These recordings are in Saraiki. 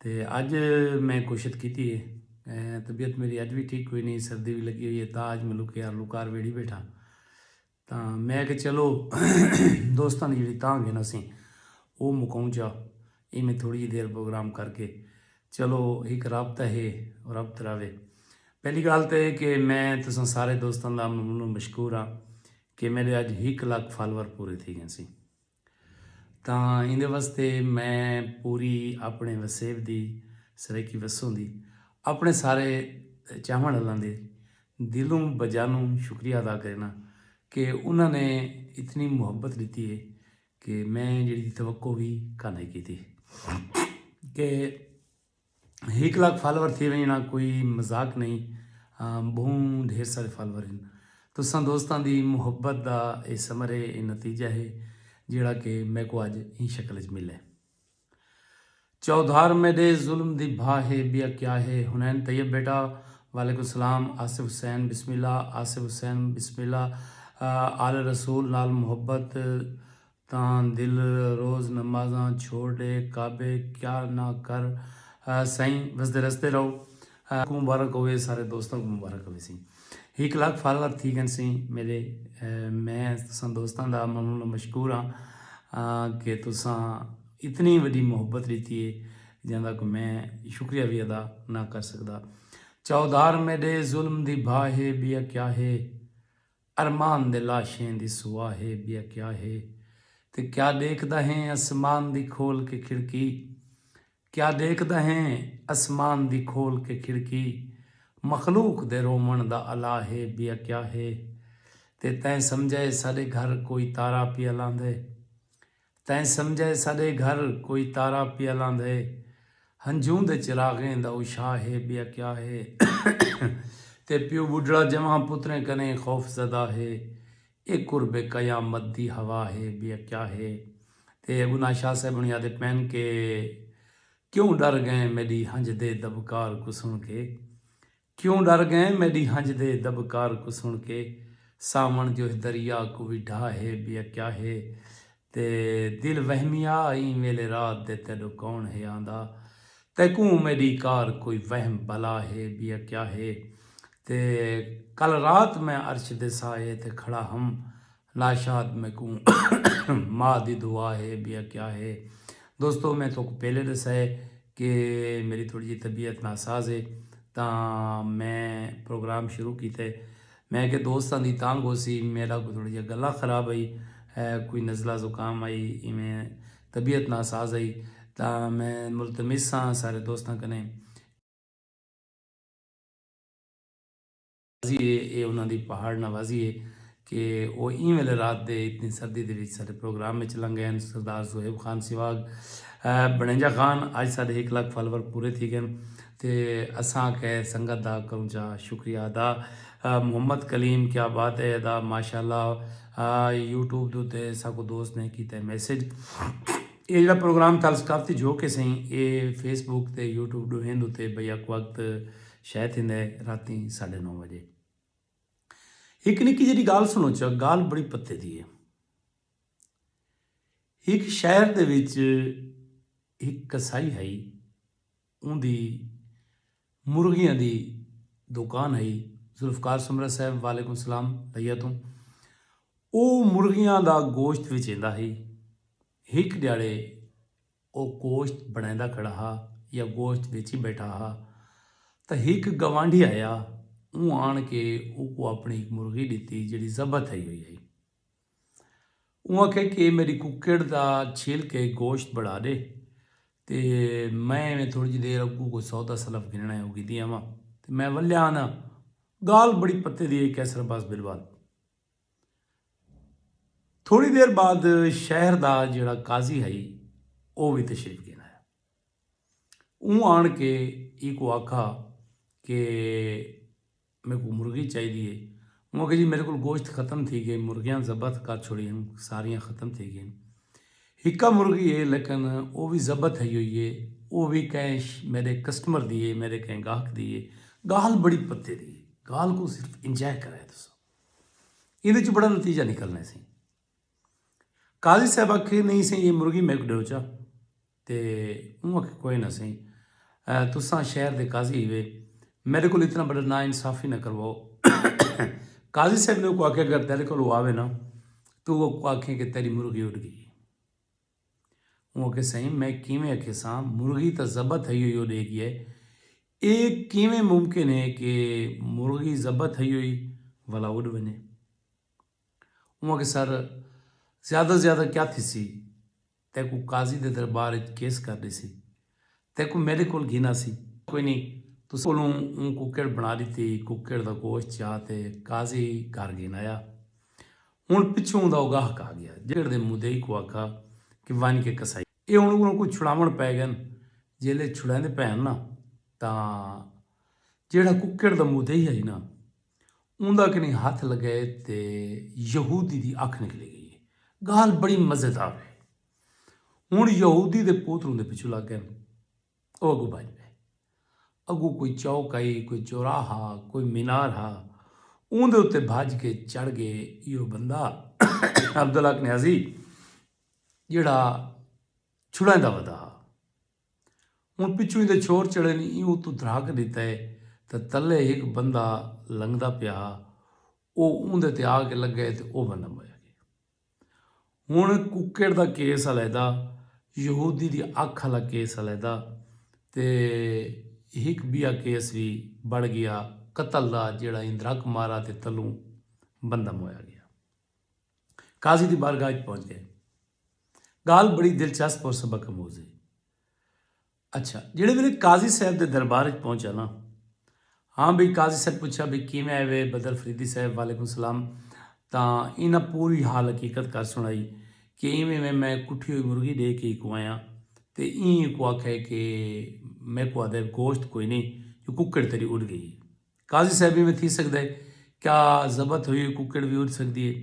تے اج میں کوشت کیتی ہے طبیعت میری اج وی ٹھیک کوئی نہیں سردی وی لگی ہوئی ہے تا اج میں لکے آر لکار ویڑھی بیٹھا تا میں کہ چلو دوستاں دی جڑی تاں گھن اسیں او مکاؤں چا ایں میں تھوڑی جی دیر پروگرام کر کے چلو ایک رابطہ ہے رابطہ راوے پہلی گال تے کہ میں تساں سارے دوستاں دا ممنون مشکور ہاں کہ میرے اج ہک لاکھ فالور پورے تھی گئے سی تاں ایندے واسطے میں پوری اپݨے وسیب دی سرائیکی وسوں دی اپݨے سارے چاہوݨ آلاں دے دلوں بجانوں شکریہ ادا کرینداں کہ انہاں نے اتنی محبت ݙتی ہے کہ میں جیڑھی توقع وی کانہیں کیتی کہ ہک لاکھ فالوور تھی وئے نا کوئی مذاق نہیں بہوں ڈھیر سارے فالوور ہیں تساں دوستاں دی محبت دا اے ثمر ہے اے نتیجہ ہے جیڑا کہ میں کو اج این شکل اچ ملے چودھار میڈے ظلم دی بھا ہے بیا کیا ہے ہنین طیب بیٹا وعلیکم السلام آصف حسین بسم اللہ آصف حسین بسم اللہ آل رسول نال محبت تاں دل روز نمازاں چھوڑ ڈے کعبے کیا نہ کر سائیں وسدے رستے رہو کوں مبارک ہووے سارے دوستاں کوں مبارک ہووے سائیں ہک لاکھ فالور تھی گن سائیں میرے میں تساں دوستاں دا ممنون و مشکور ہاں کہ تساں اتنی وڈی محبت ڈتی ہے جاں دا کوئی میں شکریہ وی ادا نہ کر سکدا چاؤدھار میڈے ظلم دی بھا ہے بیا کیا ہے۔ ارمان دے لاشیں دی سوا ہے بیا کیا ہے تے کیا ڈیکھدا ہیں اسمان دی کھول کے کھڑکی کیا ڈیکھدا ہیں اسمان دی کھول کے کھڑکی مخلوق دے روون دا الا ہے بیا کیا ہے تے تیں سمجھئے ساڈے گھر کوئی تارا پیا لاندے تیں سمجھے ساݙے گھر کوئی تارا پیا لاندھے ہنجھوں دے چراغیں دا اشاہ ہے ٻیا کیا ہے تے پیو ٻڈھڑا جنواں پتریں کنیں خوف زدہ ہے اے قرب قیامت دی ہوا ہے ٻیا کیا ہے تے انہاں شاہ صاحب ہوݨی آہدے پئن کہ کیوں ݙر ڳئیں میݙی ہنجھدے دٻکار کوں سݨ کے کیوں ڈر گئیں میڈی ہنج دے دبکار کوں سن کے ساون جو ہے دریا کوں وی ڈھا ہے بیا کیا ہے تے دل وہمیا ایں ویلے رات دے تیڈو کون ہے آندا تیکوں میڈی کار کوئی وہم بلا ہے بیا کیا ہے تے کل رات میں عرش دے سائے تے کھڑا ہم ناشاد میکوں ماء دی دعا ہے بیا کیا ہے دوستو میں توکو پہلے دسا ہے کہ میری تھوڑی جی طبیعت ناساز ہے تاں میں پروگرام شروع کیتا ہے میں کہ دوستاں دی تانگ ہو سی میرا کوئی تھوڑی جی گلا خراب آئی کوئی نزلہ زکام آئی ایویں طبیعت ناساز آئی تاں میں ملتمس ساں سارے دوستاں کنے نوازی اے اے انہاں دی پہاڑ نوازی اے کہ او ایں ویلے رات دے اتنی سردی دے وچ ساڈے پروگرام وچ لنگ گئن سردار صہیب خان سواگ بنڑینجا خان اج ساڈے ہک لکھ فالور پورے تھی گئن تے اساں آکھیا اے سنگت دا کروں چا شکریہ ادا محمد کلیم کیا بات اے ادا ماشاءاللہ یوٹیوب دے اتے ساکوں دوست نے کیتا اے میسج اے جیڑا پروگرام تھل سٹاف تے جھوک اے سئیں اے فیس بک تے یوٹیوب ڈوہیں دے اتے بیک وقت شے تھیندے راتیں ساڈھے نو وجے۔ ہک نکی جیڈی گالھ سنوچا، گالھ بڑی پتے دی اے۔ ہک شہر دے وچ ہک کسائی ہئی، اوندی مرغیاں دی دوکان ہئی، ذوالفقار سومرہ صاحب وعلیکم السلام لیا توں او مرغیاں دا گوشت وچیندا ہئی، ہک ڈیاڑے، او گوشت بݨیندا کھڑا ہا یا گوشت ویچی ٻیٹھا ہا تاں ہک گوانڈھی آیا اوں آݨ کے اوکوں آپݨی ہک مرغی ݙتی جیڑھی ذبح تھئی ہوئی ہئی۔ اوں آکھیا کہ اے میݙی ککڑ دا چھل کے گوشت بݨا ݙے تے میں ایویں تھوڑی جی دیر اڳوں کوئی سودا سلف گھنݨا ہے او گھدی آواں تے میں ولیا آنداں۔ ڳالھ بڑی پتے دی ہئی قیصر عباس بلوال۔ تھوڑی دیر بعد شہر دا جیڑا قاضی ہئی او وی تشریف گھن آیا۔ اوں آن کے ایکوں آکھا کہ میکوں مرغی چاہیدی ہے۔ اوں آکھیا جی میڈے کول گوشت ختم تھی گئے مرغیاں ضبط کر چھوڑی ہن ساریاں ختم تھی گئین۔ ہکا مرغی ہے لیکن او وی ضبط تھئی ہوئی ہے او وی کہیں میڈے کسٹمر دی ہے میڈے کہیں گاہک دی ہے۔ گالھ بڑی پتے دی ہے۔ گالھ کوں صرف انجوائے کرائے تساں۔ ایندے چ بڑا نتیجہ نکلنے سی قاضی صاحب آکھے نہیں سی یہ مرغی میک ڈیو چا تے اون آکھے کوئی نہ سی تساں شہر دے قاضی ہوئے میرے کو اتنا بڑا نا انصافی نہ کرواؤ قاضی صاحب نے کو آکھے اگر تیرے کو آوے نا تو وہ آکھے کہ تیری مرغی اٹھ گئی اوں آکھیا سئیں میں کیویں اکھیساں مرغی تاں ذبح تھئی ہوئی او ݙیکھ ڳئے اے کیویں ممکن ہے کہ مرغی ذبح تھئی ہوئی ولا اݙ ونڄے۔ اوں آکھیا سر زیادہ زیادہ کیا تھیسی تیکوں قاضی دے دربار اچ کیس کر ݙیسی۔ تیکوں میڈے کول گھینا سی۔ کوئی نی تساں کولوں اوں ککڑ بنا ڈتی۔ ککڑ دا گوشت چا تے قاضی گھر گھن آیا۔ ہن پچھوں اوندا اوگاہک آ گیا۔ جیڑھے ککڑ دے مدعی کوں آکھا کہ ونج کے کسائی۔ ایہ ہن انہاں کوں چھڑاون پئے گئن۔ جیلے چھڑاندے پئے ہن نا تاں جیڑھا ککڑ دا مدعی ہئی نا اوندا کنیں ہتھ لگئے تے یہودی دی اکھ نکلی گئی۔ گالھ بڑی مزیدار ہئی۔ ہن یہودی دے پوتر اوندے پچھوں لگ گئن۔ او اگوں بھج پئے۔ اگوں کوئی چوک ہئی، کوئی چوراہ ہا، کوئی مینار ہا۔ اوندے اتے بھج کے چڑھ گئے۔ ایہو بندہ عبداللہ کنیازی جیہڑا چھڑائیں دا ودا ہا۔ ہن پچھوں ایندے چھور چڑھے نی ایہو اتوں دھراک ڈیتا ہے تے تلے ہک بندہ لنگدا پیا ہا۔ او اوندے تے آ کے لگئے تے او بندہ مریا گئے۔ ہن کوکڑ دا کیس علیحدہ یہودی دی اکھ آلا کیس علیحدہ تے ہک بیا کیس وی بنڑ گیا قتل دا جیڑا ایندرک مارا تے تلوں بندہ مویا گیا قاضی دی بارگاہ اچ پہنچ گئے گالھ بڑی دلچسپ اور سبق اموز ہے اچھا جیڑھے ویلے قاضی صاحب دے دربار اچ پہنچا نا ہاں بھئی قاضی صاحب پچھا بھئی کیویں آئے وے بدر فریدی صاحب وعلیکم السلام تاں انہاں پوری حال حقیقت کر سنڑائی کہ ایویں ایویں میں کٹھی ہوئی مرغی ڈے کے ایکوں آیاں تے ایں ایکوں آکھے کہ میکوں آدھے گوشت کوئی نی جو ککڑ تیڈی اڈ گئی قاضی صاحب ایویں تھی سکدے کیا ذبت ہوئی ہوئی ککڑ وی اڈ سکدی ہے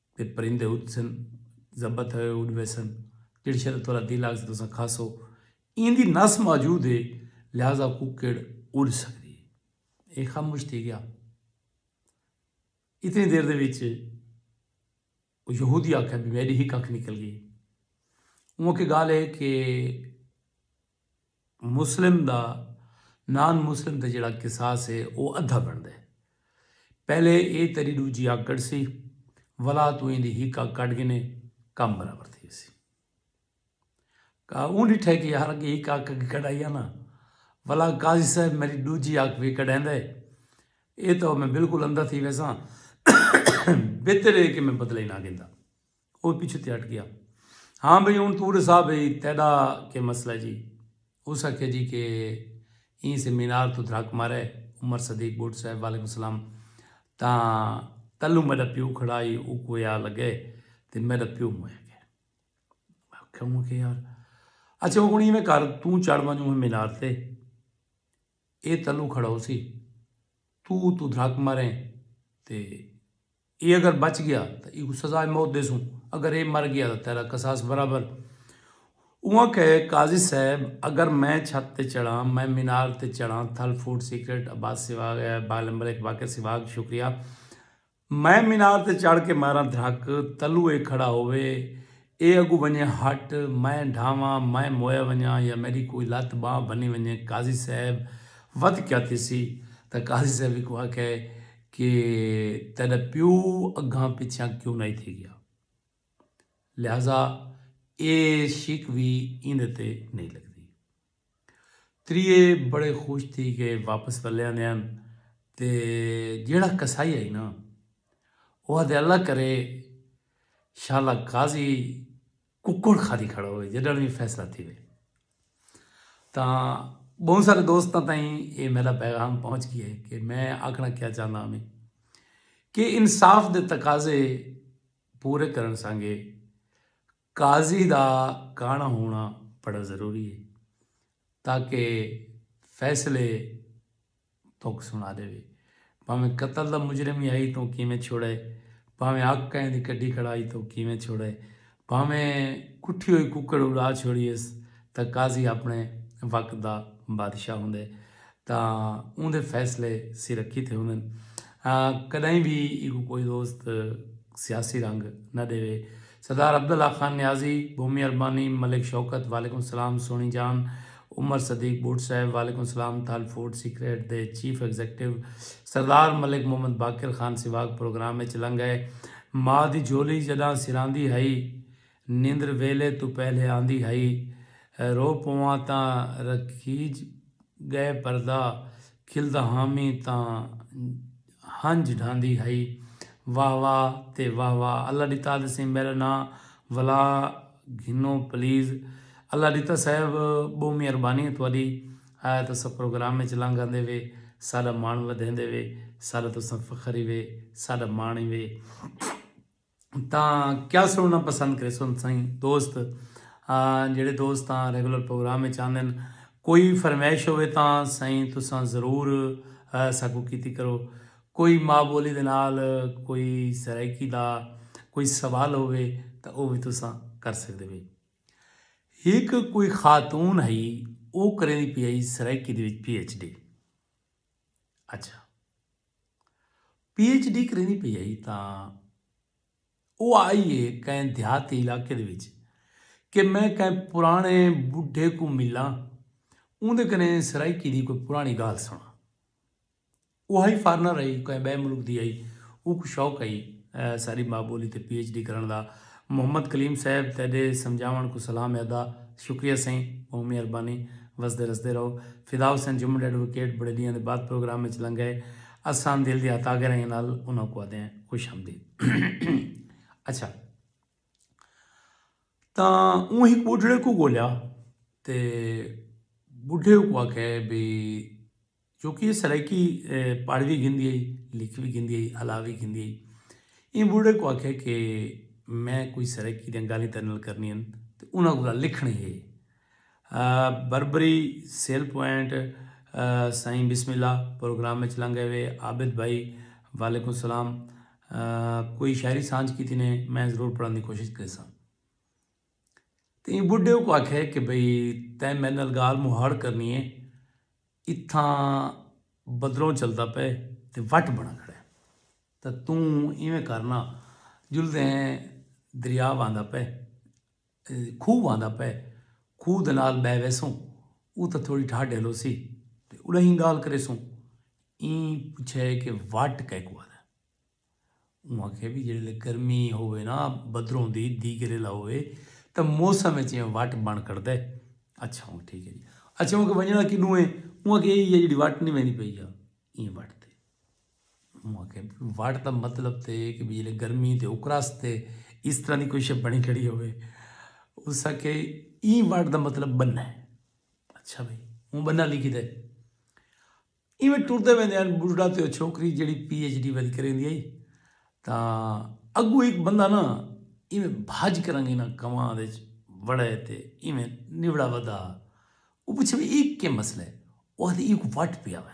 تے پرندے اڈسن زبہ تھوے اڈ ویسن جیڑھے شے دا تہاڈا دل آکھسے تساں کھاسو ایندی نس موجود ہے لہذا ککڑ اڈ سکدی ہے اے خاموش تھی گیا اتنی دیر دے وچ او یہودی آکھیا بھی میڈی ہک اکھ نکل گئی اوں کہ گال ہے کہ مسلم دا نان مسلم تے جیڑھا قصاص ہے او ادھا بنڑدے۔ پہلے اے تیڈی ڈوجھی اکھ کڈھسی ولا توں ایندی ہک اکھ کڈھ گھنے کم برابر تھی ویسی۔ اوں ڈٹھے کہ یار اگے ہک اکھ اگے کڈھائی آ نا ولا قاضی صاحب میڈی ڈوجھی اکھ وی کڈھیندے اے تاں میں بالکل اندھا تھی ویساں بہتر اے کہ میں بدلہ ای نا گھندا۔ او پچھوں تے ہٹ گیا۔ ہاں بھئی ہن توں ڈسا بھئی تیڈا کے مسئلہ جی۔ اس آکھیا جی کے ایں سے مینار توں دھرک مارے عمر صدیق بٹ صاحب وعلیکم سلام تاں تلوں میڈا پیو کھڑا ہئی اوکوں اے آ لگے تے میڈا پیو موئے گئے۔ میں آکھیا ہوں کے یار اچھا ہن ایویں کر توں چڑھ ونجوں مینار تے۔ اے تلو کھڑوسی۔ توں اتوں دھرک مریں تے اے اگر بچ گیا تاں ایکوں سزائے موت ڈیسوں اگر اے مر گیا تاں تیرا قصاص برابر۔ اونہاں کہے قاضی صاحب اگر میں چھت تے چڑھاں میں مینار تے چڑھاں تھل فوڈ سیکرٹ عباس سیواگ ہے بال امبریک باقر سیواگ شکریہ۔ میں مینار تے چڑھ کے ماراں دھرک، تلو اے کھڑا ہووے، اے اگوں ونجے ہٹ، میں ڈھاواں، میں موئے ونجاں یا میڈی کوئی لت بانہہ بھنی ونجے قاضی صاحب ودھ کیا تھیسی تاں قاضی صاحب ہیکوں آکھے کہ تیڈا پیو اگھاں پچھیاں کیوں نائی تھی گیا۔ لہذا اے شک وی ایندے تے نئی لگدی۔ تریہے بڑے خوش تھی کے واپس ولے آندے ہن تے جیہڑا قصائی ہئی نا او آدھے اللہ کرے شالا قاضی ککڑ کھادی کھڑا ہوئے جڈن وی فیصلہ تھیوے تاں بہوں سارے دوستاں تائیں اے میرا پیغام پہنچ گیا ہے کہ میں آکھنا کیا چاہندا ہاں کہ انصاف دے تقاضے پورے کرن سانگے قاضی دا کانڑا ہونا بڑا ضروری ہے تاکہ فیصلے توک سنا ڈیوے بھاویں قتل دا مجرم ہی ہئی توں کیویں چھوڑے بھاویں اگ کہیں دی کڈھی کھڑا ہئی توں کیویں چھوڑے بھاویں کٹھی ہوئی ککڑ اڑا چھوڑیس تاں قاضی اپنے وقت دا بادشاہ ہوندے تاں اوندے فیصلے سرکی تھے ہوندن۔ کڈائیں وی ایکوں کوئی دوست سیاسی رنگ نہ ڈیوے۔ سردار عبداللہ خان نیازی، بھومی اربانی، ملک شوکت، وعلیکم السلام سوہنی جان، عمر صدیق بٹ صاحب، وعلیکم السلام تھل فوڈ سیکریٹ دے chief executive Sardar Malik Muhammad Baqir Khan Sehwag program اچ لنگئے۔ ماء دی جھولی جڈاں سراندی ہئی نندر ویلھے توں پہلے آندی ہئی۔ رو پواں تاں رکھیج ڳئے پردہ کھلدا ہامی تاں ہنج ڈھاندی ہئی۔ واہ واہ تے واہ واہ اللہ ڈتا تسیں میڈا ناں ولا گھنو پلیز۔ اللہ ڈتا صاحب بہوں مہربانی ہے تہاڈی آیا تساں پروگرام وچ لنگ آندے وے ساڈا مان ودھیندے وے ساڈا تساں فخر ہی وے ساڈا مان ہی وے۔ تاں کیا سنڑنا پسند کریسن سائیں دوست جیڑے دوست تاں ریگولر پروگرام اچ آندن کوئی فرمیش ہووے تاں سائیں تساں ضرور ساکوں کیتی کرو کوئی ماء بولی دے نال کوئی سرائیکی دا کوئی سوال ہووے تاں او وی تساں کر سکدے بھئی ہک کوئی خاتون ہئی او کریندی پئی ہئی سرائیکی دے وچ پی ایچ ڈی اچھا پی ایچ ڈی کریندی پئی ہئی تاں او آئی اے کہیں دیہاتی علاقے دے وچ کہ میں کہیں پرانے بڈھے کوں ملاں اوندے کنے سرائیکی دی کوئی پرانی گالھ سنڑاں او ہئی فارنر ہئی کہیں بئے ملک دی ہئی اوکوں شوق ہئی ساری ماں بولی تے پی ایچ ڈی کرنڑ دا محمد کلیم صاحب تیڈے سمجھاونڑ کوں سلام ہے ادا شکریہ سائیں بہوں مہربانی وسدے رسدے رہو۔ فداحسین جمنٹ ایڈووکیٹ بڑے ڈینہاں دے بعد پروگرام اچ لنگھ ائے اساں دل دیاں تاگرائیاں نال انہاں کوں آدھے ہیں خوش آمدید اچھا تاں اوں ہک بڈھڑے کو گولیا تے بڈھے کو آکھے بھی جو کہ یہ سرائیکی پڑھ بھی گھندی آئی لکھ بھی گھندی آئی ہلا بھی گھندی آئی ایں بڈھڑے کو آکھے کہ میں کوئی سرائیکی دیں گالی تیرے نال کرنی ہیں تے انہاں کو لکھنی ہے بربری سیل پوائنٹ سائیں بسم اللہ پروگرام وچ لنگ گئے وے عابد بھائی وعلیکم السلام کوئی شاعری سانجھ کیتی نے میں ضرور پڑھن دی کوشش کریساں تے ایں بڈھے کوں آکھے کہ بھئی تیں میڈے نال گال مہاڑ کرنی اے اتھاں بدلوں چلدا پئے تے وٹ بنڑا کھڑا اے تاں توں ایویں کر نا جلدے ہیں دریا وہندا پئے کھوہ آندا پئے کھوہ دے نال بہہ ویسوں اتھاں تھوڑی ٹھاہ ڈھیلوسی تے اݙاہیں ڳالھ کریسوں ایں پچھئے کہ وٹ کیکوں آدن اوں آکھئے وی جیڑھلے گرمی ہووے نا بدروں دی دیگریلا ہووے تاں موسم اچ ایہ وٹ بݨ کھڑدے اچھا ہوں ٹھیک ہے جی اچھا ہوں کہ ونڄݨا کݙوں ہے اوں آکھئے ایہ ہی ہے جیڑھی وٹ نی ویندی پئی یا ایں وٹ تے وٹ دا مطلب تے کہ بھی جلے گرمی تے اکراس تے اس طرح دی کوئی شے بنی کھڑی ہوئے اس کے این وٹ دا مطلب بننا ہے اچھا بھائی ہوں بننا لکھی دے ایویں ٹردے ویندے ہیں بڑھڑا تے چھوکری جڑی پی ایچ ڈی ویل کریں دی تا اگو ایک بندہ نا ایویں بھاج کرن گی نا کماں دے وڑے تے ایویں نوڑا ودا او پچھے بھی ایک کے مسئلہ ہے وہ ایک وٹ پیا ہوئے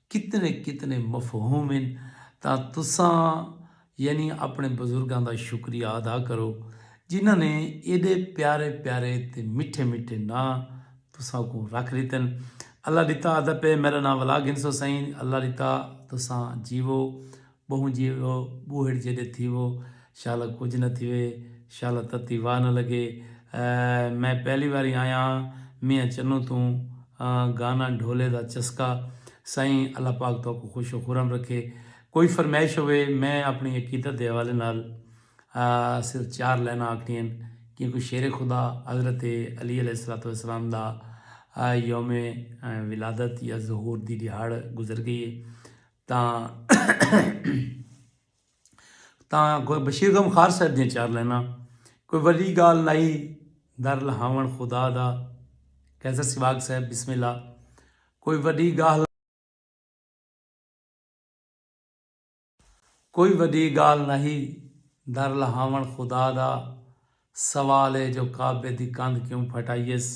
کتنے کتنے مفہوم ہن تاں تساں یعنی اپݨے بزرگاں دا شکریہ ادا کرو جنہاں نے ایݙے پیارے پیارے تے مٹھے مٹھے ناں تساں کوں رکھ ݙتن اللہ ݙتا ادب ہے میݙا ناں ولاگنسو سئیں اللہ ݙتا تساں جیوو ٻہوں جیوو ٻوہڑ جیݙے تھیوو شالا کجھ نہ تھیوے شالا تتی واہ نہ لڳے میں پہلی واری آیا ہاں میاں چنوں توں گانا ڈھولے دا چسکا سائیں اللہ پاک تہاکوں خوش و خرم رکھے کوئی فرمائش ہووے میں اپݨی عقیدت دے حوالے نال صرف چار لائناں آکھݨیاں کیونکہ شیر خدا حضرت علی علیہ الصلوۃ والسلام دا یوم ولادت یا ظہور دی ݙیہاڑ گزر ڳئی ہے تاں تاں کوئی بشیر غم خار صاحب دیاں چار لینا کوئی ولی گال نائی در لہاون خدا دا قیصر سواگ صاحب بسم اللہ کوئی ولی گال کوئی ولی گال نائی در لہاون خدا دا سوال ہے جو کعبے دی کند کیوں پھٹائیس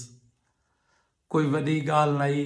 کوئی ولی گال نائی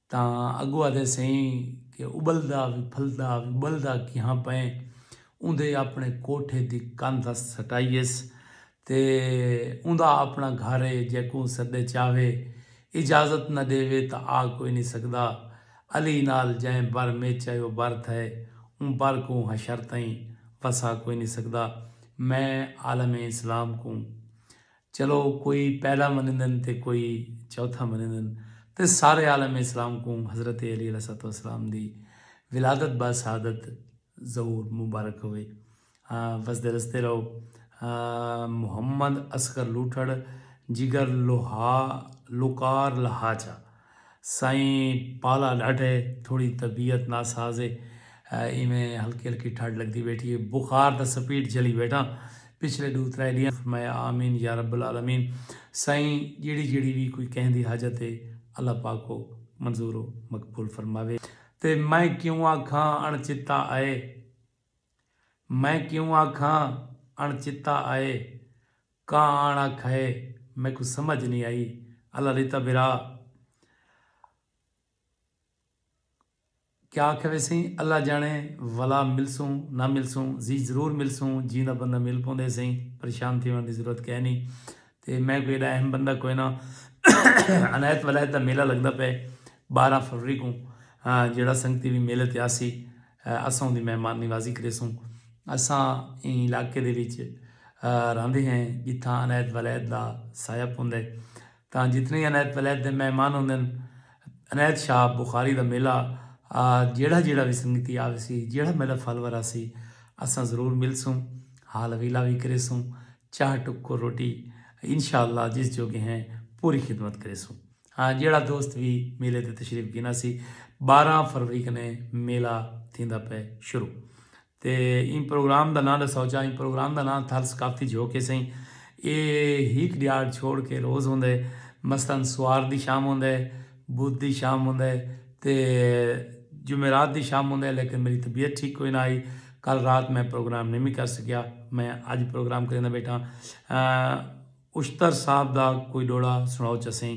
تاں اگو آدھے سئیں کہ ابلدا وی پھلدا وی ابلدا کیہاں پئیں اوندے اپنے کوٹھے دی کندھ اس سٹائیس تے اوندا اپنا گھر اے جیکوں سڈے چاہوے اجازت نہ ڈیوے تاں آ کوئی نی سگدا علی نال جئیں بر میچ اے او بر تھئے اوں بر کوں حشر تئیں وسا کوئی نی سگدا میں عالم اسلام کوں چلو کوئی پہلا منیندن تے کوئی چوتھا منیندن تے سارے عالم اسلام کوں حضرت علی علیہ الصلوۃ والسلام دی ولادت با سعادت ظہور مبارک ہووے۔ وسدے رسدے رہو۔ محمد اصغر لوٹھڑ جگر لوہا لوکار لہا چا۔ سائیں پالا ڈاڈھے تھوڑی طبیعت ناساز اے ایویں ہلکی ہلکی ٹھڈ لگدی بیٹھی اے بخار دا سپیڈ جھلی بیٹھاں پچھلے ڈو ترے ڈینہاں توں میں آمین یارب العالمین سائیں جیڑھی جیڑھی وی کوئی کہیں دی حاجت اے اللہ پاک او منظور و مقبول فرماوے تے میں کیوں آکھاں اݨ چتا اے میں کیوں آکھاں اݨ چتا اے کاں آن آکھئے میکوں سمجھ نی آئی الا ریتا برا کیا آکھئے ویسئیں اللہ جانے ولا ملسوں نہ ملسوں زی ضرور ملسوں جیندا بندہ مل پوندے سئیں پریشان تھیوݨ دی ضرورت کئے نی تے میں کوئی ایڈا اہم بندہ کوئے نہ عنایت ولایت دا میلہ لگدا پئے ٻارہاں فروری کوں جیڑھا سنگتی وی میلے تے آسی۔ اساں اوندی مہمان نوازی کریسوں۔ اساں ایں علاقے دے وچ رہندے ہیں جتھاں عنایت ولید دا سایہ پوندے تاں جتنے ہی عنایت ولید دے مہمان ہوندن عنایت شاہ بخاری دا میلہ جیڑھا جیڑھا وی سنگتی آویسی جیڑھا میڈا فالور آسی اساں ضرور ملسوں حال ویلا وی کریسوں چاہ ٹکر روٹی انشاءاللہ جس جوگے ہیں پوری خدمت کریسوں۔ ہاں جیڑھا دوست وی میلے تے تشریف گھنا سی بارہاں فروری کنے میلہ تھیندا پئے شروع تے ایں پروگرام دا ناں ڈساؤ چا ایں پروگرام دا ناں تھل ثقافتی جھوک ہے سئیں اے ہیک ڈیاڑ چھوڑ کے روز ہوندے مثلا سوار دی شام ہوندے بدھ دی شام ہوندے تے جمعرات دی شام ہوندے لیکن میری طبیعت ٹھیک کوئی نہ آئی کل رات میں پروگرام نی میں کر سکیا میں اج پروگرام کریندا بیٹھا ہاں۔ اشتر صاحب دا کوئی ڈوڑا سنڑاؤ چسیں۔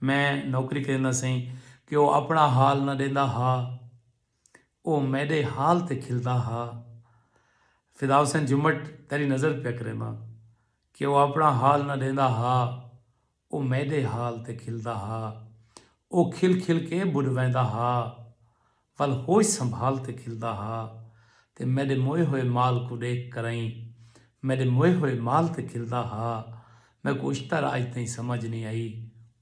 میں نوکری کریندا سئیں کہ او اپنڑا حال نہ ڈیندا ہا۔ او میڈے حال تے کھلدا ہا۔ فداحسین جھمٹ تیڈی نظر پیا کرینداں کہ او اپنڑا حال نہ ڈیندا ہا۔ او میڈے حال تے کھلدا ہا۔ او کھل کھل کے بڈ ویندا ہا۔ ول ہوش سنبھال تے کھلدا ہا تے میݙے موئے ہوئے مال کوں ݙیکھ کرئیں میݙے موئے ہوئے مال تے کھلدا ہا میکوں اشتر اڄ تئیں سمجھ نئیں آئی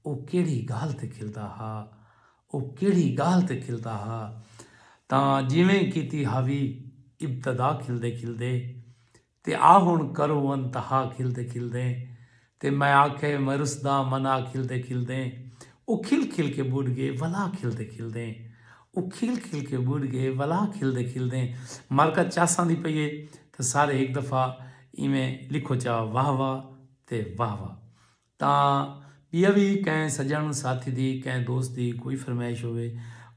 او کیڑھی ڳالھ تے کھلدا ہا او کیڑھی ڳالھ تے کھلدا ہا تاں جیویں کیتی ہاوی ابتدا کھلدے کھلدے تے آ ہن کرو ان تہا کھلدے کھلدیں تے میں آکھے میں رسدا منا کھلدے کھلدیں او کھل کھل کے بڈھ گئے ولا کھلدے کھلدیں او کھل کھل کے بڈھ گئے ولا کھلدے کھلدیں مرکت چاساں دی پئی ہے تے سارے ہک دفعہ ایویں لکھو چا واہ واہ تے واہ واہ تاں ٻیا وی کہیں سجݨ ساتھی دی کہیں دوست دی کوئی فرمائش ہووے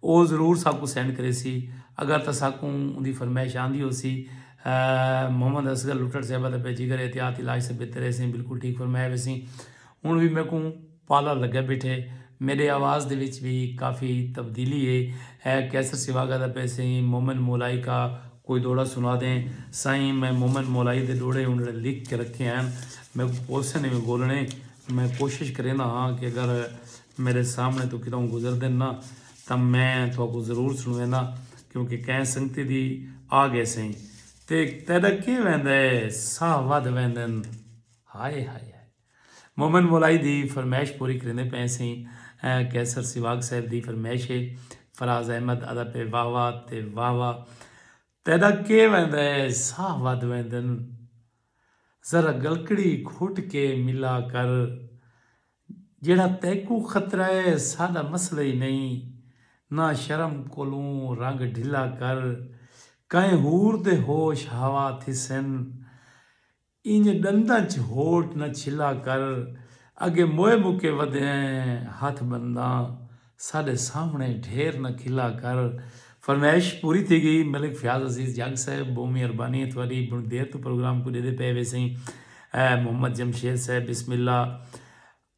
او ضرور ساکوں سینڈ کریسی اگر تاں ساکوں اوندی فرمائش آندی ہوسی محمد اصغر لٹڑ صاحبہ دا پے جگر احتیاط علاج سے بہتر ہے سیں بالکل ٹھیک فرمایا ویسیں ہن وی میکوں پالا لگے بیٹھے میڈے آواز دے وچ وی کافی تبدیلی ہے اے قیصر سیواگا دا پے سیں مومن مولائی کا کوئی ڈوہڑا سنا دیں۔ سائیں میں مومن مولائی دے ڈوہڑے اونڑے لکھ کے رکھے ہین۔ میکوں پوسن ایویں بولنے۔ میں کوشش کریندا ہاں کہ اگر میڈے سامنے توں کتاؤں گزردن نا تاں میں تہاکوں ضرور سنڑوینداں کیونکہ کہیں سنگتی دی آ گئے سئیں۔ تے تیڈا کیں ویندا ہے ساہ ودھ ویندن۔ ہائے ہائے ہائے۔ مومن مولائی دی فرمائش پوری کریندے پئے سئیں قیصر سیواگ صاحب دی فرمائش ہے فراز احمد ادا پئے واہ واہ تے واہ واہ تیڈا کے ویندا ہے ساہ ودھ ویندن ذرا گلکڑی گھٹ کے ملا کر جیڑھا تیکوں خطرہ ہے ساڈا مسئلہ ہی نہیں نہ شرم کولوں رنگ ڈھلا کر کئیں ہور دے ہوش ہوا تھیسن اینجھے ڈنداں چ ہوٹ نہ چھلا کر اگے موئے مکے ودھیں ہتھ بنداں ساڈے سامنے ڈھیر نہ کھلا کر فرمائش پوری تھی گئی ملک فیاض عزیز جگ صاحب بہوں مہربانی تھوڑی بہوں دیر توں پروگرام کوں ڈیدے پئے ویسیں محمد جمشید صاحب بسم اللہ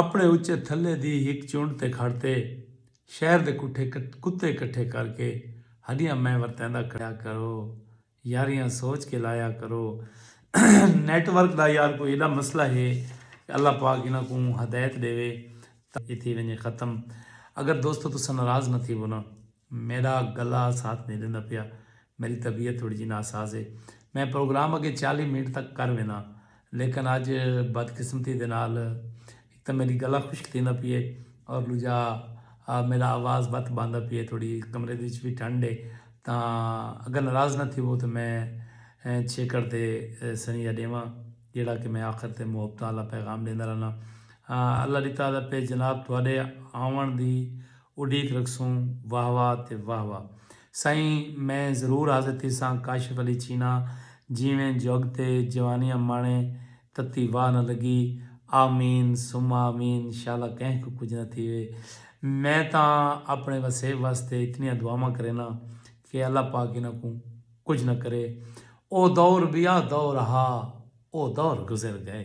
اپݨے اچے تھلے دی ہک چنڈ تے کھڑ تے شہر دے کٹھے کتے کٹھے کر کے ہݙیاں میں ورتیندا کھڑیا کرو یاریاں سوچ کے لایا کرو نیٹ ورک دا یار کوئی ایڈا مسئلہ ہے کہ اللہ پاک انہاں کوں ہدایت ݙیوے تاں ایتھے ونجے ختم اگر دوستو تساں ناراض نہ تھیوو نا میݙا گلا ساتھ نی ݙیندا پیا میݙی طبیعت تھوڑی جی ناساز ہے۔ میں پروگرام اڳے چالیہہ منٹ تک کر وینداں لیکن اڄ بدقسمتی دے نال ہک تاں میݙی گلا خشک تھیندا پئی ہے اور ݙوجھا میݙا آواز بت بھاندا پئی ہے تھوڑی کمرے دے وچ وی ٹھنڈ ہے تاں اگر ناراض نہ تھیوو تاں میں چھیکڑ تے سنیہہ ݙیواں جیڑھا کہ میں آخر تے محبتاں آلا پیغام ݙیندا رہنا۔ اللہ ݙتا دا پئے جناب تہاݙے آوݨ دی۔ اڈیک رکھسوں واہ واہ تے واہ واہ سائیں میں ضرور حاضر تھیساں کاشف علی چینا جیویں جھگ تے جوانیاں ماݨے تتی واہ نہ لگی آمین ثم آمین شالا کہیں کوں کجھ نہ تھیوے میں تاں اپݨے وسیب واسطے اتنیاں دعاواں کرینداں کہ اللہ پاک انہاں کوں کجھ نہ کرے او دور ٻیا دور ہا او دور گزر ڳئے۔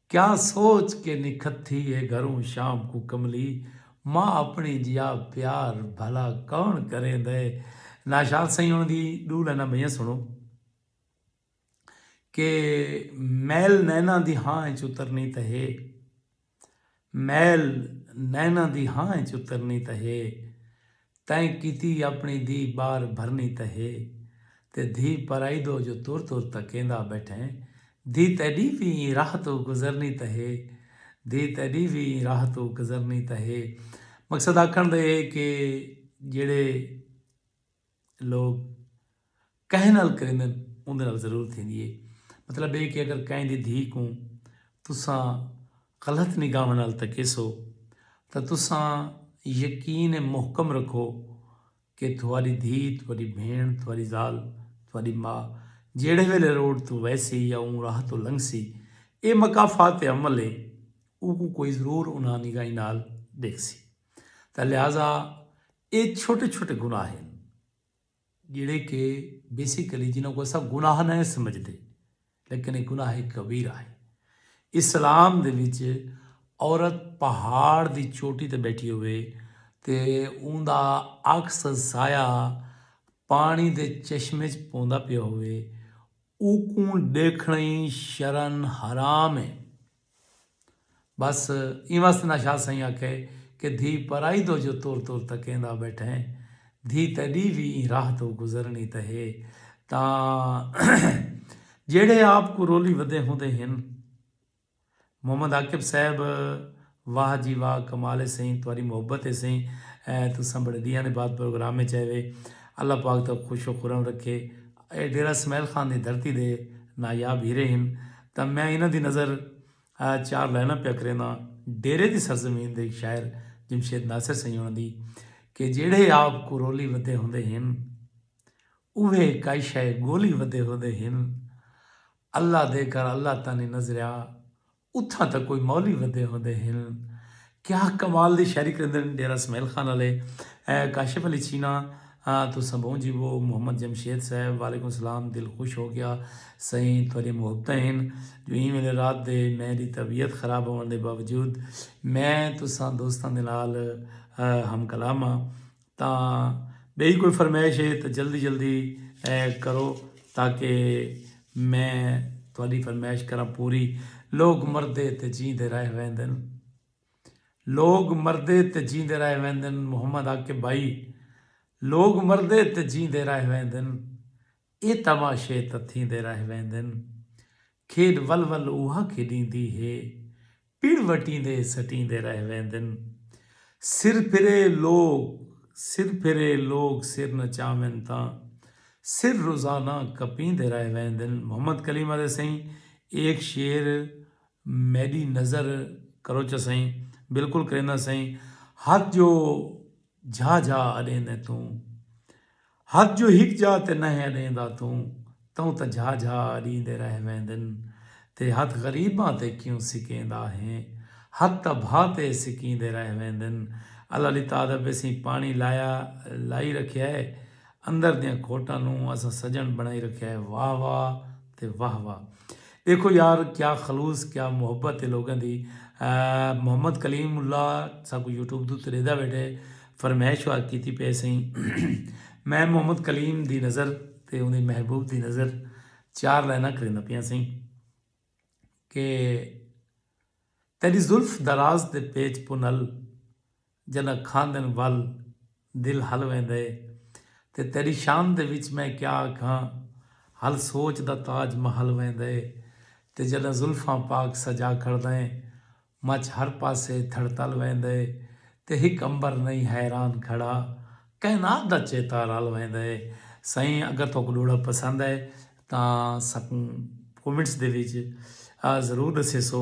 کیا سوچ کے نکھتھی ہے گھروں شام کوں کملی ماء اپنڑیں جیا پیار بھلا کون کریندے ناشاد سئیں انڑ دی ڈو لائناں بئیاں سنڑو کے میل نیناں دی ہاں اچ اترنی تاں ہے میل نیناں دی ہاں اچ اترنی تاں ہے تئیں کیتی اپݨی دھی ٻار بھرنی تاں ہے تے دھی پرائی دو جو تر تر تکیندا ٻیٹھیں دھی تیݙی وی ایں راہ توں گزرنی تاں ہے دھی تیݙی وی ایں راہ توں گزرنی تاں ہے مقصد آکھݨ دا اے کہ جیڑھے لوک کہیں نال کریندن اوندے نال ضرور تھیندی ہے۔ مطلب اے کہ اگر کہیں دی دھی کوں تساں غلط نگاہواں نال تکیسو تاں تساں یقین محکم رکھو کہ تہاڈی دھی، تہاڈی بھیݨ، تہاڈی ذال، تہاڈی ماء جیڑھے ویلے روڈ توں ویسی یا اوں راہ توں لنگھسی اے مکافات عمل ہے اوکوں کوئی ضرور انہاں نگاہیں نال ڈیکھسی تاں لہذا اے چھوٹے چھوٹے گناہ ہن۔ جیہڑے کہ بیسیکلی جنہاں کوں اساں گناہ نہ ہیں سمجھدے لیکن ایہ گناہ کبیرہ ہے۔ اسلام دے وچ عورت پہاڑ دی چوٹی تے بیٹھی ہووے تے اوندا عکس سایہ پانی دے چشمے وچ پوندا پیا ہووے اوکوں ڈیکھنڑیں شرن حرام ہے۔ بس ایں واسطے نہ شاہ سئیں آکھے کہ دھی پرائی دو جو تر تر تکیندا ٻیٹھیں دھی تیݙی وی ایں راہ توں گزرݨی تے ہے تاں جیڑھے آپ کوں رولی ودے ہوندے ہن محمد عاقب صاحب واہ جی واہ کمال ہے سئیں تہاݙی محبت ہے سئیں تساں بڑے ݙینہاں دے بعد پروگرام وچ آئے وے اللہ پاک تہاکوں خوش و خرم رکھے اے ڈیرہ اسماعیل خان دی دھرتی دے نایاب ہیرے ہن تاں میں انہاں دی نظر چار لائناں پیا کرینداں ڈیرے دی سرزمین دے شاعر جمشید ناصر سیوݨ دی کہ جیڑھے آپ کو رولی ودے ہوندے ہن اوہے کائی شے گولی ودے ہوندے ہن اللہ دے گھر اللہ تاں نی نظریا اتھاں تاں کوئی مولی ودے ہوندے ہن کیا کمال دی شاعری کریندن ڈیرہ اسماعیل خان آلے کاشف علی چینا تساں بہوں جیوو محمد جمشید صاحب وعلیکم سلام دل خوش ہو گیا سائیں تہاڈیاں محبتاں ہن جو ایں ویلے رات دے میں دی طبیعت خراب ہوون دے باوجود میں تساں دوستاں دے نال ہم کلام ہاں۔ تاں ٻئی کوئی فرمائش ہے تاں جلدی جلدی کرو تاکہ میں تہاݙی فرمائش کراں پوری لوک مردے تے جیندے رہ ویندن لوک مردے تے جیندے رہ ویندن محمد عاقب بھائی لوک مردے تے جیندے رہ ویندن اے تماشے تاں تھیندے رہ ویندن۔ کھیݙ ول ول اوہا کھیݙیندی ہے۔ پڑ وٹیندے سٹیندے رہ ویندن۔ سر پھرے لوک سر پھرے لوک سر نچاون تاں سر روزانہ کپیندے رہ ویندن۔ محمد کلیم آہدے سئیں ایک شعر میݙی نظر کروچا سئیں۔ بالکل کرینداں سئیں۔ ہتھ جو جھا جھا اݙیندیں توں ہتھ جو ہک جا تے نہہ اݙیندا توں توں تاں جھا جھا اݙیندے رہ ویندن تے ہتھ غریباں تے کیوں سکیندا ہیں ہتھ تاں بھا تے سکیندے رہ ویندن اللہ لی تعدب ایں سیں پاݨی لایا لائی رکھیا ہے اندر دیاں کھوٹاں نوں اساں سجݨ بݨائی رکھیا ہے واہ واہ تے واہ واہ ݙیکھو یار کیا خلوص کیا محبت ہے لوگاں دی محمد کلیم اللہ ساکو یوٹیوب تو تریدا بیٹھے فرمائش وار کیتی پے سئیں میں محمد کلیم دی نظر تے اون دی محبوب دی نظر چار لائناں کریندا پیا سئیں کہ تیری زلف دراز تے پیچ پنل جݙاں کھاندن ول دل ہل ویندا ہے تے تیݙی شان دے وچ میں کیا آکھاں ہل سوچ دا تاج مہل ویندا ہے تے جݙاں زلفاں پاک سجا کھڑدا ہیں مچ ہر پاسے تھڑتل ویندا ہے تے ہک عنبر نئیں حیران کھڑا کائنات دا چیتا رل ویندا ہے سائیں اگر تہاکوں ݙوہڑا پسند ہے تاں ساکوں کومنٹس دے وچ ضرور ݙسیسو۔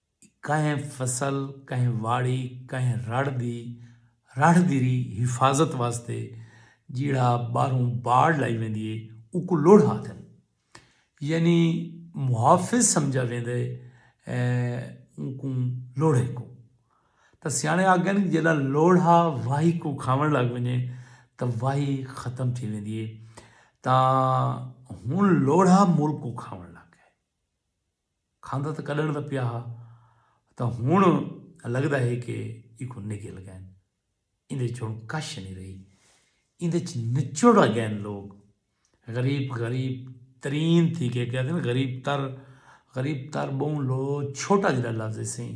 کہیں فصل، کہیں واڑی، کہیں رڑھ دی رڑھ دی ری حفاظت واسطے جیڑھا ٻاہروں باڑ لائی ویندی ہے اوکوں لڑھ آکھدن۔ یعنی محافظ سمجھا ویندا ہے اوکوں لڑھے کوں۔ تاں سیاݨے آکھدن جیڑھا لڑھا واہی کوں کھاوݨ لڳ ونڄے تاں واہی ختم تھی ویندی ہے۔ تاں ہݨ لڑھا ملک کوں کھاوݨ لڳ ڳئے۔ کھاندا تاں کڈھݨ دا پیا ہا تاں ہݨ لڳدا ہے کہ ایکوں نگل ڳئن۔ ایندے اچ ہݨ کش نی رہی۔ ایندے اچ نچوڑ ڳئن لوک۔ غریب غریب ترین تھی ڳئے۔ کہندے نی غریب تر غریب تر ٻہوں لو چھوٹا جیہڑا لفظ ہے سئیں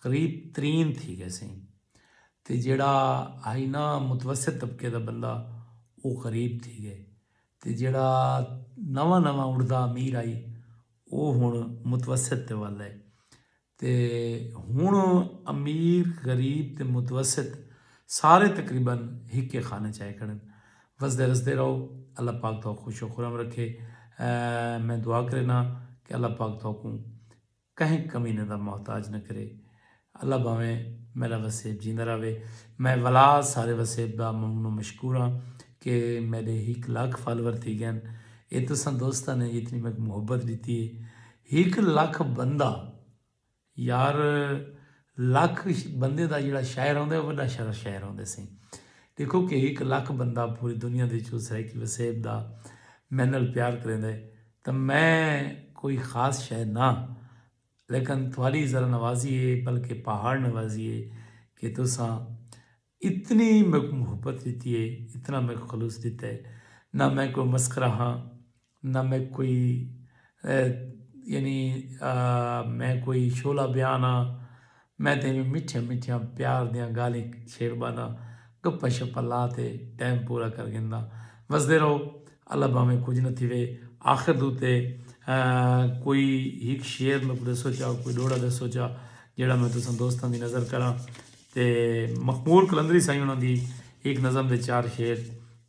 غریب ترین تھی ڳئے سئیں۔ تے جیہڑا ہئی نا متوسط طبقے دا بندہ او غریب تھی ڳئے۔ تے جیڑھا نواں نواں اڑدا امیر ہئی او ہنڑ متوسط تے ول ہے تے ہنڑ امیر غریب تے متوسط سارے تقریبا ہکے خانے چ آئے کھڑن وسدے رسدے رہو اللہ پاک تہاکوں خوش و خرم رکھے میں دعا کرینا کہ اللہ پاک تہاکوں کہیں کمینے دا محتاج نہ کرے۔ اللہ بھاویں میڈا وسیب جیندا رہوے۔ میں ولا سارے وسیب دا ممنون و مشکور ہاں کہ میڈے ہک لکھ فالور تھی گئن۔ اے تساں دوستاں نے جتنی میک محبت ڈتی ہے۔ ہک لکھ بندہ یار لکھ بندے دا جیڑا شہر ہوندے او وڈا شہر شہر ہوندے سیں۔ دیکھو کہ ہک لکھ بندہ پوری دنیا دے چوں سرائیکی وسیب دا مینل پیار کریندے۔ تاں میں کوئی خاص شئے نہ لیکن تھوڑی ذرا نوازی ہے بلکہ پہاڑ نوازی ہے کہ تساں اتنی میکوں محبت ڈتی ہے اتنا میکوں خلوص ڈتا ہے نہ میں کوئی مسخرہ ہاں نہ میں کوئی یعنی میں کوئی شعلہ بیان ہاں میں تیݙیاں مٹھیاں مٹھیاں پیار دیاں ڳالھیں چھیڑ ٻہنداں، گپاں شپاں لا تے ٹائم پورا کر گھنداں۔ وسدے رہو، اللہ بھانویں کجھ نہ تھیوے۔ آخر دے اتے کوئی ہک شعر میکوں ݙسو چا، کوئی ݙوہڑا ݙسو چا جیڑھا میں تساں دوستاں دی نذر کراں تے مقبول قلندری سائیں انہاں دی ہک نظم دے چار شعر۔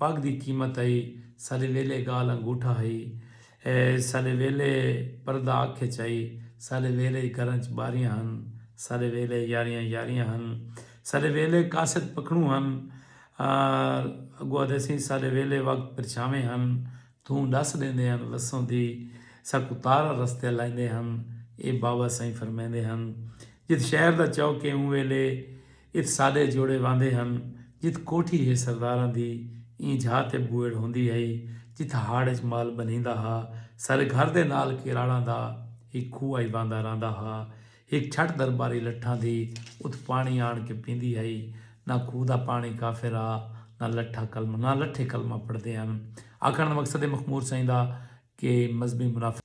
پڳ دی قیمت ہئی۔ ساݙے ویلے ڳالھ انگوٹھا ہئی۔ ساݙے ویلے پردہ اکھ اچ ہئی۔ ساݙے ویلے اچ گھراں اچ ٻاریاں ہن۔ ساݙے ویلے یاریاں یاریاں ہن۔ ساݙے ویلے قاصد پکھݨوں ہن۔ اڳوں آہدے سئیں ساݙے ویلے وقت پرچھاویں ہن۔ تھوں ڈس ڈیندے ہن وسوں دی ساکوں تارا رستے لائیندے ہن اے بابا سائیں فرمیندے ہن جت شہر دا چوک اے اوں ویلے ات ساڈے جوڑے واندے ہن جت کوٹھی ہے سرداراں دی ایں جھا تے بوئڑ ہوندی ہئی جت ہاڑ اچ مال بنھیندا ہا ساڈے گھر دے نال کیراڑاں دا ہک کھوہ ہئی واندا رہندا ہا ہک چھٹ درباری لٹھاں دی اتھ پاݨی آݨ کے پیندی ہئی۔ نہ کھوہ دا پاݨی کافر ہا نہ لٹھا کلمہ نہ لٹھے کلمہ پڑھدے ہن۔ آکھݨ دا مقصد اے مخمور سئیں دا کہ مذہبی منافقت۔